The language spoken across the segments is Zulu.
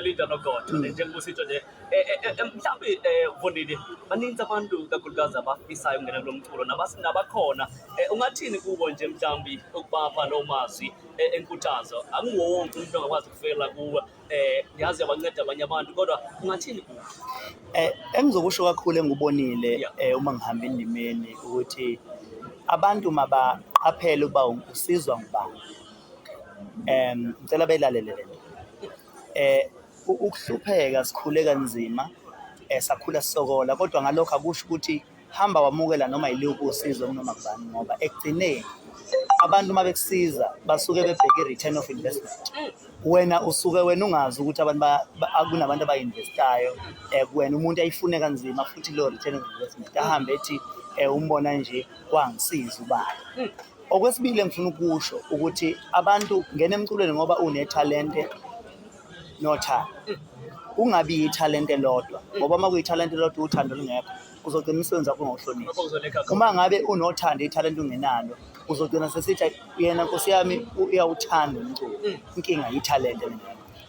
Linda noGodo mm. njengoba usitsho nje eh, eh, eh, mhlawumbe um Vondile baninzi abantu kakhulukazi abafisayo ukungena kulo mculo nabakhona um ungathini kubo nje mhlawumbi ukubapha loo mazwi enkuthazo akunguwo wonke umuntu ongakwazi ukufela kuwe um yazi yabanceda abanye abantu kodwa ungathini kubo um engizokusho kakhulu engubonile um uma ngihamba endimeni ukuthi abantu mabaqaphele ukuba usizwa ngubani um ngicela belalele le nto um ukuhlupheka sikhule kanzima um sakhula sisokola kodwa ngalokho akusho ukuthi hamba wamukela noma yiluphi usizo kunoma kubani ngoba ekugcineni abantu uma bekusiza basuke bebheke i-return of investment wena usuke wena ungazi ukuthi abantu kunabantu abayi-investayo um wena umuntu ayifune kanzima futhi leyo return of investment ahambe ethi um umbona nje kwangisiza ubani Okwesibili engifuna ukusho ukuthi abantu ngena emculweni ngoba unethalente nothando. Kungabi yithalente lodwa ngoba uma kuyithalente lodwa uthando lungekho uzogcina umsebenzi wakho ungawuhloniphi. Uma ngabe unothando ithalente ungenalo uzogcina sesithi yena nkosi yami uyawuthanda umculo. Mm. Inkinga yithalente lena.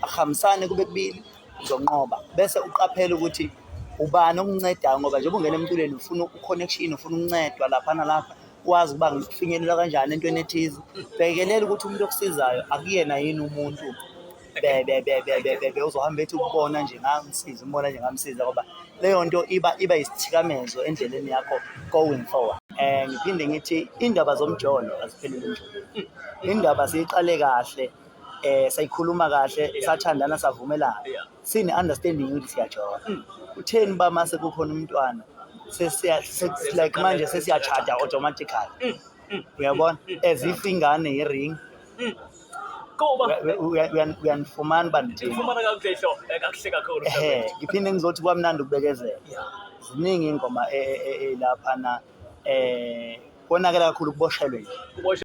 Akuhambisane kube kubili uzonqoba bese uqaphela ukuthi ubani okuncedayo ngoba njengoba ungena emculweni ufuna u-connection ufuna ukuncedwa lapha nalapha kwazi ukuba ngifinyelelwa kanjani entweni ethize bhekelela ukuthi umuntu okusizayo akuyena yini umuntu bebebebebebe uzohamba ethi ukubona nje ngamsiza umbona nje ngamsiza ngoba leyo nto iba iba isithikamezo endleleni yakho going forward um ngiphinde ngithi iy'ndaba zomjolo aziphelele nje indaba siyiqale kahle um sayikhuluma kahle sathandana savumelana sine understanding ukuthi siyajola hmm. utheni uba mase kukhona umntwana like manje sesiyachada automatically hmm, hmm, uyabona as if ingane ye-ring uyanifumana uba ngiphinde ngizothi kwamnandi ukubekezela ziningi iy'ngoma elapha e, e, e, na um konakela kakhulu kuboshelwe nje